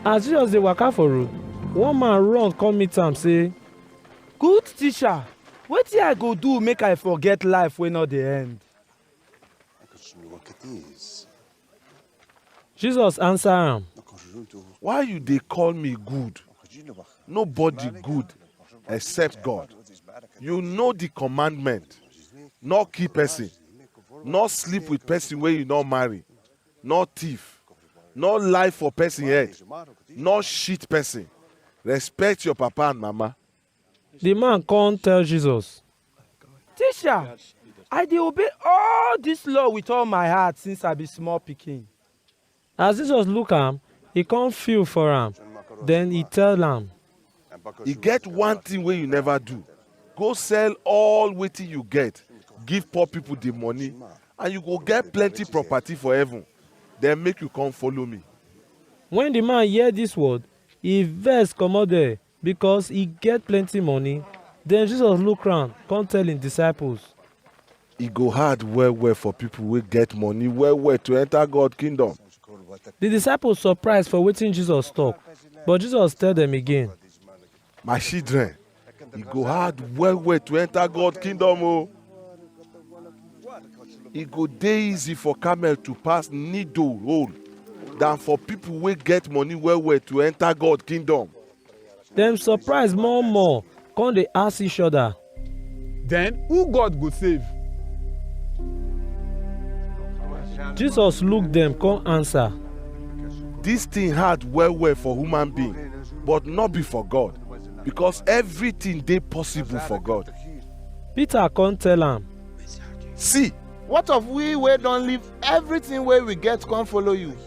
As Jesus dey waka for road, one man run come meet am say, Good teacher, wetin I go do make I forget life wey no dey end? Jesus answer am, Why you dey call me good? Nobody good except God. You know the commandment. No kill person. No sleep with person wey you no marry. nor thief, nor lie for pesin head, nor cheat pesin. Respect your papa and mama. Di man kon tell Jesus. Tisha, I dey obey all dis law wit all my heart since I be small pikin. As Jesus look am, e kon feel for am, den e tell am. e get one thing wey you never do go sell all wetin you get give poor people the money and you go get plenty property for heaven then make you come follow me When the man hear this word, he vex comot there, because he get plenty money. Then Jesus look round, come tell him disciples. E go hard well-well for pipo wey get money well-well to enta God Kingdom. Di disciples surprise for wetin Jesus tok, but Jesus tell dem again. My shidren, e go hard well-well to enta God Kingdom o! E go dey easy for camel to pass needle hole dan for pipo wey get money well-well to enta God Kingdom. Dem surprise more more, come dey ask each other. Then who God go save? Jesus look dem come answer. This thing hard well well for human being, but not be for God, because everything dey possible for God. Peter come tell am. See, What of we wey don leave everything wey we get come follow you?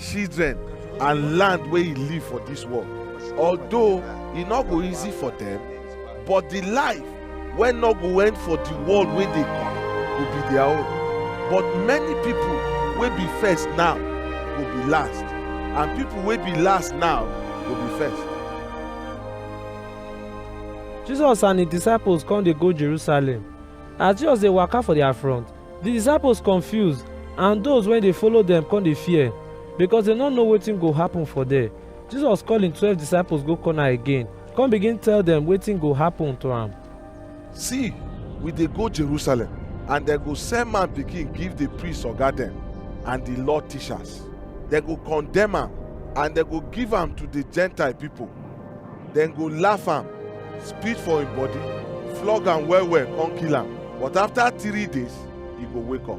children and land wey e leave for dis world although e no go easy for dem but di life wey no go end for di world wey dey come go be their own but many pipo wey be first now go be last and pipo wey be last now go be first Jesus and his disciples come dey go Jerusalem. As Jesus dey waka for their front, Di disciples confuse and those wey dey follow dem come dey fear, because dem no know wetin go happen for there. Jesus call him twelve disciples go corner again, come begin tell dem wetin go happen to am. See, we dey go Jerusalem, and dem go sell man pikin give di priest oga dem and di law teachers. Dem go condemn am and dem go give am to di Gentile pipo. dem go laugh am spit for im body flog am well well come kill am but after three days e go wake up